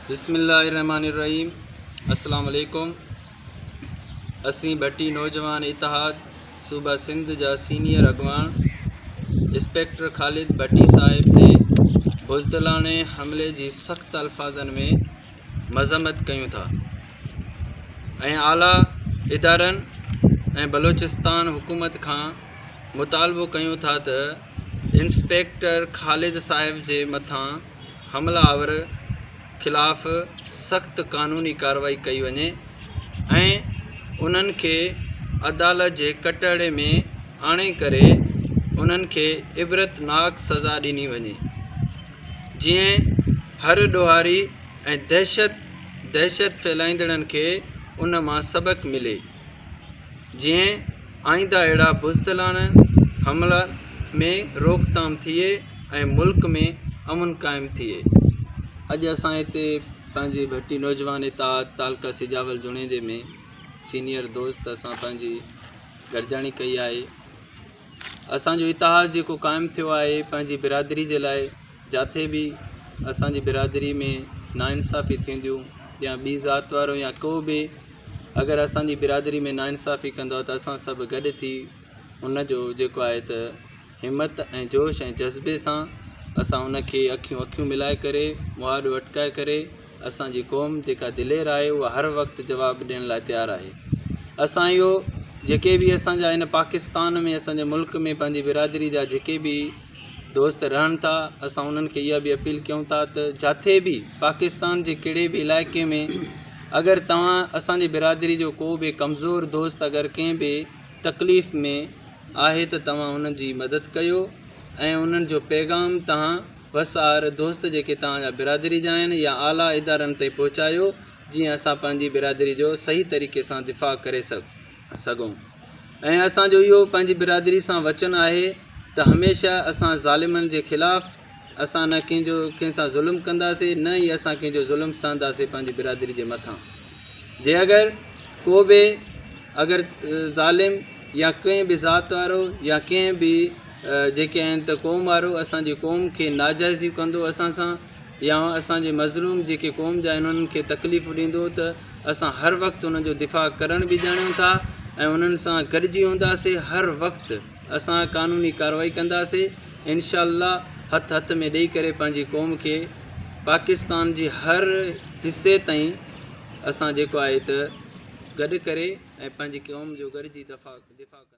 بسم الله الرحمٰن الرحيم السلام عليڪم اسين ڀٽي نوجوان اتحاد صوبه سنڌ جا سينيئر اڳواڻ انسپيڪٽر خالد ڀٽي صاحب تي بزدلاڻي حملي جي سخت الفاظن ۾ مذمت ڪيون ٿا ۽ اعليٰ ادارن ۽ بلوچستان حڪومت کان مطالبو ڪيون ٿا ته انسپيڪٽر خالد صاحب جي مٿان حمله آور خلاف سخت قانوني ڪارروائي ڪئي وڃي ۽ انهن کي عدالت جي ڪٽهڙي ۾ آڻي ڪري انهن کي عبرتناڪ سزا ڏني وڃي جيئن هر ڏوهاري ۽ دهشت دهشت ڦهلائيندڙن کي ان مان سبق ملي جيئن آئينده اهڙا بزدلاڻه حملا ۾ روڪٿام ٿئي ۽ ملڪ ۾ امن قائم ٿئي. اڄ اسان هتي پنهنجي ڀٽي نوجوان اتحاد تعلقه سجاول جوڻيجي ۾ سينيئر دوست اسان پنهنجي گڏجاڻي ڪئي آهي. اسان جو اتحاد جيڪو قائم ٿيو آهي پنهنجي برادري جي لاء جاٿي به اسان جي برادري ۾ ناانصافي ٿينديون يا ٻي ذات وارو يا ڪو به اگر اسان جي برادري ۾ ناانصافي ڪندو ته اسان سڀ گڏ ٿي ان جو جيڪو آهي ته همت ۽ جوش ۽ جذبي سان اسان ان کي اکيون اکيون ملائي ڪري مهاڏو اٽڪائي ڪري اسان جي قوم جيڪا دلير آهي اها هر وقت جواب ڏيڻ لاء تيار آهي اسان اهو جيڪي به اسان جا هن پاڪستان ۾ اسان جي ملڪ ۾ پنهنجي برادري جا جيڪي به دوست رهن ٿا اسان انهن کي اها به اپيل ڪيون ٿا ته جاٿي به پاڪستان جي ڪهڙي به علائقي ۾ اگر توهان اسان جي برادري جو ڪو به ڪمزور دوست اگر ڪنهن به تڪليف ۾ آهي ته توهان ان جي مدد ڪيو ۽ انهن جو پيغام توهان وس آهر دوست جيڪي توهان جا برادري جا آهن يا اعليٰ ادارن تائين پهچايو جيئن اسان پنهنجي برادري جو صحيح طريقي سان دفاع ڪري سگهون ۽ اسان جو اهو پنهنجي برادري سان وچن آهي ته هميشه اسان ظالمن جي خلاف اسان نه ڪنهن جو ڪنهن سان ظلم ڪنداسين نه ئي اسان ڪنهن جو ظلم سهنداسين پنهنجي برادري جي مٿان. جي اگر ڪو به اگر ظالم يا ڪنهن به ذات وارو يا ڪنهن به جيڪي آهن ته قوم وارو اسانجي قوم کي ناجائزيون ڪندو اسان سان يا اسانجي مظلوم جيڪي قوم جا آهن انهن کي تڪليفون ڏيندو ته اسان هر وقت انهن جو دفاع ڪرڻ به ڄاڻيون ٿا ۽ انهن سان گڏجي هونداسي هر وقت اسان قانوني ڪاروائي ڪنداسي انشاء الله هٿ هٿ ۾ ڏئي ڪري پنهنجي قوم کي پاڪستان جي هر حصي تائين اسان جيڪو آهي ته گڏ ڪري ۽ پنهنجي قوم جو گڏجي دفاع ڪنداسين